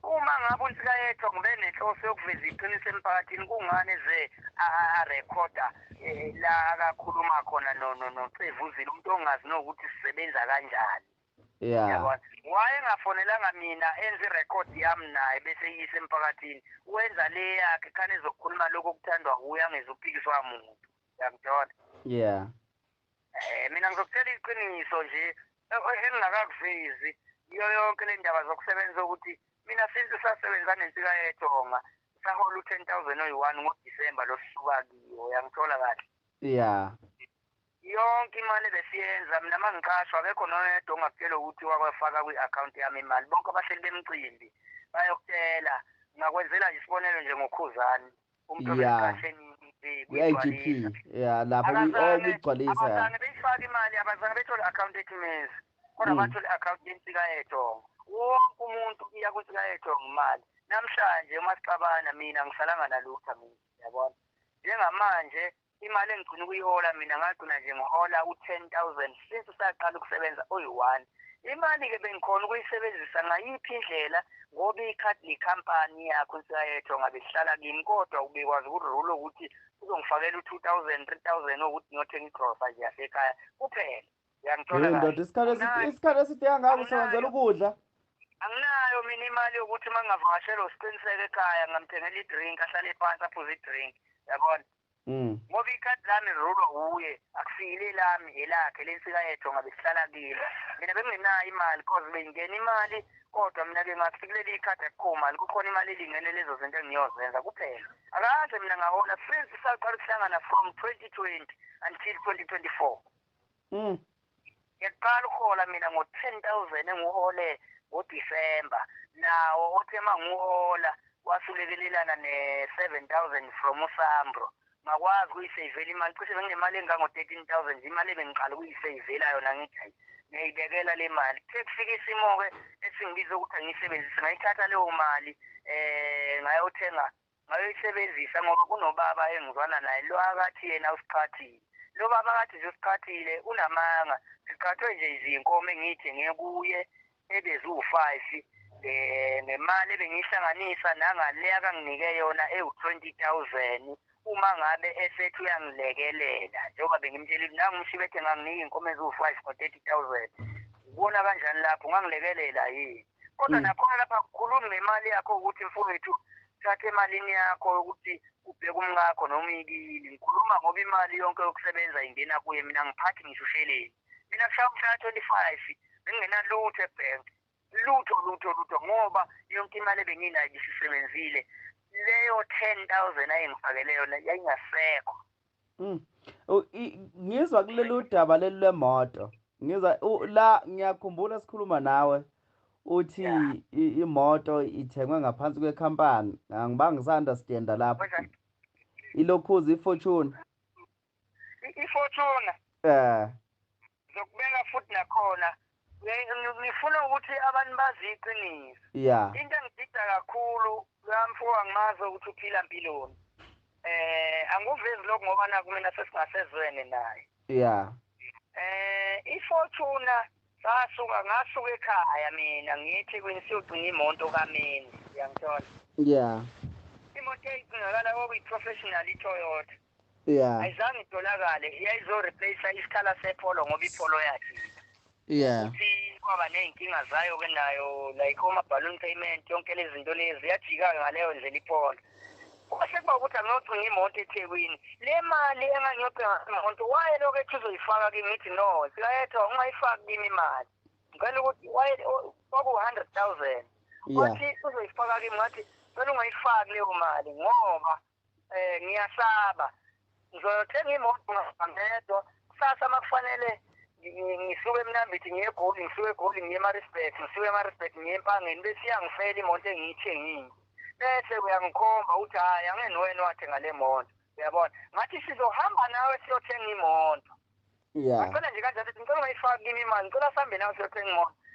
Uma ngabe uNsikayethu ngibe nenhloso yokuveza iqiniso emphakathini kungani ze arekhoda eh, la akakhuluma khona noCevuzile umuntu ongazi nokuthi sisebenza kanjani. Yeah. Yabona. Wayengafonelanga mina enze irecord yami naye bese yise emphakathini. Wenza le yakhe khane ezokhuluma lokho kuthandwa uye angezuphikiswa umuntu. Yangithola. Yeah. Eh mina ngizokutshela iqiniso nje e-, engingakakuvezi iyo yonke le ndaba zokusebenza ukuthi mina since sasebenza nensika yethonga sahola u-10,000 oyi-1 ngoDisemba losuka kiyo yangithola kahle. Yeah. Yonke imali ebesiyenza mina mangiqashwa akekho noyedwa ongakutshela ukuthi wakwafaka kwi account yami imali bonke abahleli bemcimbi bayokutshela ngakwenzela nje isibonelo nje ngokhuzani umuntu obeqashe kwi-IGP ya lapho kuyigcwalisa ya abazange beyifake imali abazange bethole account ethi mezi kodwa mm. bathole account yensika yethongo wonke umuntu iya kwinsika yethongo imali namhlanje uma sixabana mina ngisalanga nalutho mina yabona njengamanje Imali engigcina ukuyihola mina ngagcina nje ngihola u-ten thousand since saqala ukusebenza oyi-one. Imali-ke bengikhona ukuyisebenzisa ngayiphi indlela ngoba ikhadi likhampani yakho nsiyayetho ngabe sihlala kimi kodwa ubekwazi ukurule ukuthi uzongifakela u-two thousand, three thousand okuthi ngiyothenga igrosa nje yasekhaya kuphela. Uyangithola Hey kahle. ndoda isikhathi eside Anginayo- isikhathi eside kangaka usebenzela ukudla. Anginayo mina imali yokuthi uma ngingavakashelwa usiqiniseko ekhaya ngamthengela i-drink ahlale phansi aphuze i-drink. Yabona? Mm. Ngoba ikhadi lami lirulwa wuye, akusile elami, elakhe lensika yethu ngabe sihlala kilo. Mina bengingenayo imali cause bengingena imali kodwa mina ke ngathi kuleli ikhadi akukho mali kukhona imali elingene lezo zinto engiyozenza kuphela. Akaze mina ngahola since saqala ukuhlangana from 2020 until 2024. Mm. Ngiyaqala uhola mina ngo 10000 enguhole ngo December nawo othe manguhola wasulekelelana ne 7000 from uSambro. Ngakwazi kuyisavela imali cishe benginemali engango 13000 imali ebengiqala kuyisavela yona ngithi ngiyayibekela le mali kuthe kufika isimo-ke esingibiza ukuthi angiyisebenzise ngayithatha leyo mali um ngayothenga Ngayoyisebenzisa ngoba kunobaba engizwana naye lo akathi yena usiqhathile. Lo baba akathi nje usiqhathile unamanga. Siqhathwe nje izinkomo engiyithenge kuye ebeziwu-five um ngemali ebengiyihlanganisa nangale akanginike yona ewu-twenty thousand uma ngabe esethi uyangilekelela njengoba bengimtshela ukuthi nangu umshibethe nganginika iy'nkomo eziwu-five ngo-thirty thousand. Ubona kanjani lapho ungangilekelela yini? kodwa mm. nakhona lapha kukhulumi ngemali yakho ukuthi mfowethu thatha emalini yakho ukuthi ubheke umkakho noma uyikili ngikhuluma ngoba imali yonke yokusebenza ingena kuye mina ngiphathi ngisho usheleni mina kushaya umshaya twenty five bengingenalutho ebhenki lutho lutho lutho ngoba yonke imali ebenginayo isisebenzile leyo ten thousand ayengifakele yona yayingasekho Mm. Ngizwa kulelo daba leli lwemoto. Ngizwa la ngiyakhumbula sikhuluma nawe uthi imoto ithengwe ngaphansi kwekhampani. Angibanga ngisandasidenda lapho. Ilokhuzi iFortune. IFortune. Eh. Ngizokubeka futhi nakhona. Ngifuna ukuthi abantu bazi iqiniso. Yeah. Into engidida kakhulu kamfo angimazi ukuthi uphila impiloni. Eh anguvezi lokho ngoba naku mina sesingasezwene naye. Yeah. Eh ifortuna sasuka ngasuka ekhaya mina ngithi kwini siyogcina imoto kamini. Uyangithola? Yeah. Imoto eyigcinakala okuyi professional iToyota. yeah ayizange itholakale iyayizo replace isikhala sepholo ngoba ipholo yakhe yeah ukuthi kwaba nezinkinga zayo ke nayo like oma balloon payment yonke lezi zinto lezi yajika ngaleyo ndlela ipholo kwase kuba ukuthi angiyocinga imoto ethekwini le mali engangiyocinga imoto waye lokho ethi uzoyifaka kimi ngithi no sikayetho ungayifaki kimi imali ngicela ukuthi waye kwaku-hundred thousand wathi uzoyifaka kimi ngathi cela ungayifaki leyo mali ngoba Eh ngiyasaba. Ngizothenga imoto ngedwa. Kusasa makufanele ngisuke emnambithi ngiye egoli ngisuke egoli ngiye emarisburg ngisuke emarisburg ngiye empangeni bese iyangifela imoto engiyithengile bese uyangikhomba ukuthi hhayi angeni wena wathenga le moto uyabona ngathi sizohamba nawe siyothenga imoto yeah. ngicela nje kanjalo ngicela ungayifaki kimi imali ngicela sihambe nawe siyothenga imoto